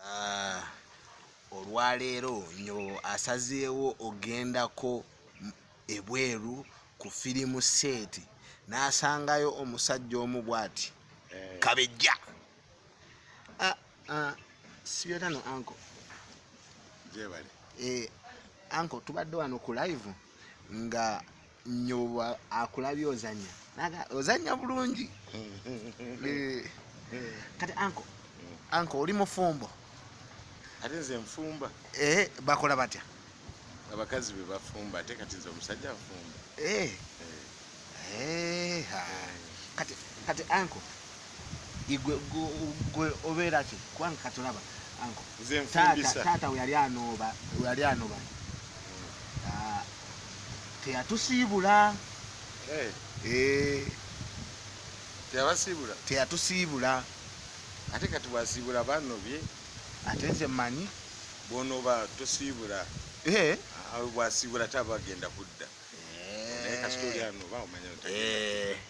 Ah, olwaleero nyo asazeewo ogendako ebweru ku firimu seeti n'asangayo omusajja omu bwati eh. kabejja ah, ah, sibyotano anko jebale eh, anko tubadde wano ku live nga nyoba akulabye ozanya naga ozanya bulungi eh, kati anko anko oli mufumbo ate nze nfumba eh bakola batya abakazi be bafumba ate kati nze omusajja afumba eh eh, eh. kati kati anko igwe gwe obera ki kwange katulaba anko nze mfundisa tata we yali anoba we yali anoba hmm. ah, teyatusiibula eh. Eh. teyabasiibula teyatusiibula ate kati bwasiibula banobye ate nze mmanyi bwonoba tosiibula eh. ah, bwasiibula taba agenda kudda naye kasita oli anoba omanya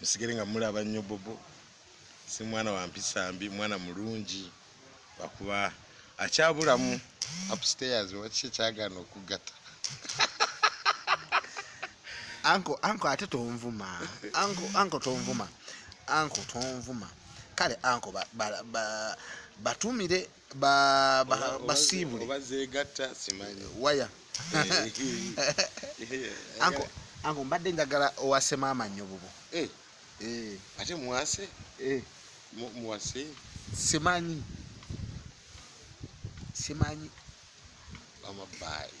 musigere nga mulaba nnyo bobo si mwana wa mpisa mbi mwana mulungi lwakuba akyabulamu upstairs waki ekyagaana okugatta anko anko ate tonvuma anko anko tonvuma anko tonvuma kale anko batumire ba, ba, basiibule waya anko mbadde njagala owase maama nnyo bubu eh. Eh. ate muwase eh. muwase simanyi simanyi bamabaayi